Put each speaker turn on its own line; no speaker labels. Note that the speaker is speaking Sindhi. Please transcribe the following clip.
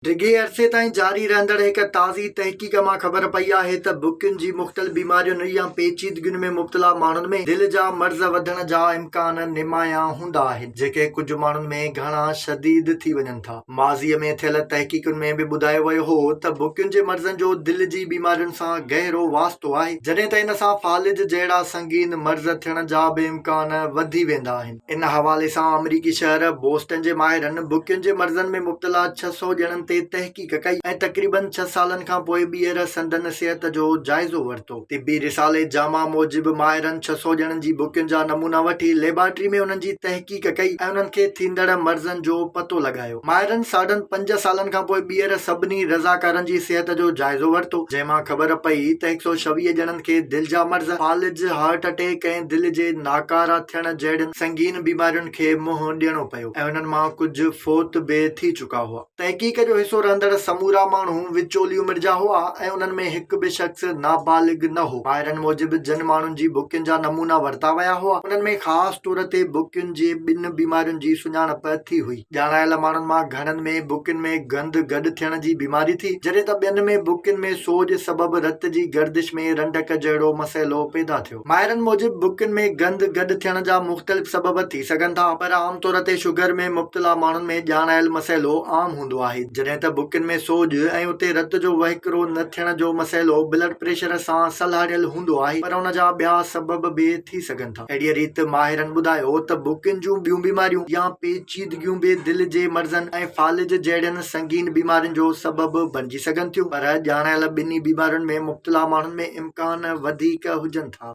ڊگهي عرصي تائين جاري رهندڙ هڪ تازي تحقيق مان خبر پئي آهي ته بکين جي مختلف بيمارين يا پيچيدگين ۾ مبتلا ماڻهن ۾ دل جا مرض وڌڻ جا امڪان نمايان هوندا آهن جيڪي ڪجهه ماڻهن ۾ گهڻا شديد ٿي وڃن ٿا. ماضي ۾ ٿيل تحقيقن ۾ به ٻڌايو ويو هو ته بکين جي مرضن جو دل جي بيمارين سان گهرو واسطو آهي جڏهن ته ان سان فالج جهڙا سنگين مرض ٿيڻ جا به امڪان وڌي ويندا آهن. ان حوالي سان آمريڪي شهر بوسٽن جي ماهرن بڪين جي مرضن ۾ مبتلا ڇهه سؤ ڄڻن تي تحقيق ڪئي ۽ تقريبن ڇهه سالن کان پوء ٻيهر سندن صحت جو جائزو ورتو. طبي رسالي جاما موجب ماهرن ڇهه سؤ ڄڻن جي بڪين جا نمونا وٺي ليبارٽري ۾ انهن جي تحقيق ڪئي ۽ انهن کي ٿيندڙ مرضن جو پتو لڳايو. ماهرن ساڍن پنج سالن کان پوء ٻيهر سڀني رضاڪارن جي صحت جو جائزو ورتو، جنهن مان خبر پئي ته هڪ سؤ ڇويهه ڄڻن کي دل جا مرض، فالج، هارٽ اٽيڪ ۽ دل جي ناڪارا ٿيڻ جهڙين سنگين بيمارين کي منهن ڏيڻو پيو ۽ انهن مان ڪجهه فوت به ٿي چڪا هئا. تحقيق جو حصو رهندڙ سمورا ماڻهو وچولي عمر جا هئا ۽ انهن ۾ هڪ به شخص نابالغ نه هو. ماهرن موجب جن ماڻهن جي بڪين جا نمونا ورتا ويا هئا، انهن ۾ خاص طور تي بڪين جي ٻن بيمارين جي سڃاڻپ ٿي هئي. ڄاڻايل ماڻهن مان گهڻن ۾ بڪين ۾ گند گڏ ٿيڻ جي بيماري ٿي، جڏهن ته ٻين ۾ بڪين ۾ سوڄ سبب رت جي گردش ۾ رنڊڪ جهڙو مسئلو پيدا ٿيو. ماهرن موجب بڪين ۾ گند گڏ ٿيڻ جا مختلف سبب ٿي سگهن ٿا، پر عام طور تي شگر ۾ مبتلا ماڻهن ۾ ڄاڻايل مسئلو عام هوندو آهي، جڏهن ته بڪين ۾ سوڄ ۽ اتي رت جو وهڪرو نه ٿيڻ جو مسئلو بلڊ پريشر سان سلهاڙيل هوندو آهي، پر ان جا ٻيا سبب به ٿي سگهن ٿا. اهڙيء ريت ماهرن ٻڌايو ته ڀوڪين جون ٻيون بيماريون يا پيچيدگيون به دل جي مرضن ۽ فالج جهڙين سنگين بيمارين جو سبب بڻجي سگهن ٿيون پر ڄاڻايل ٻنهي بيمارين ۾ مبتلا ماڻهن ۾ امڪان وڌيڪ هجن ٿا.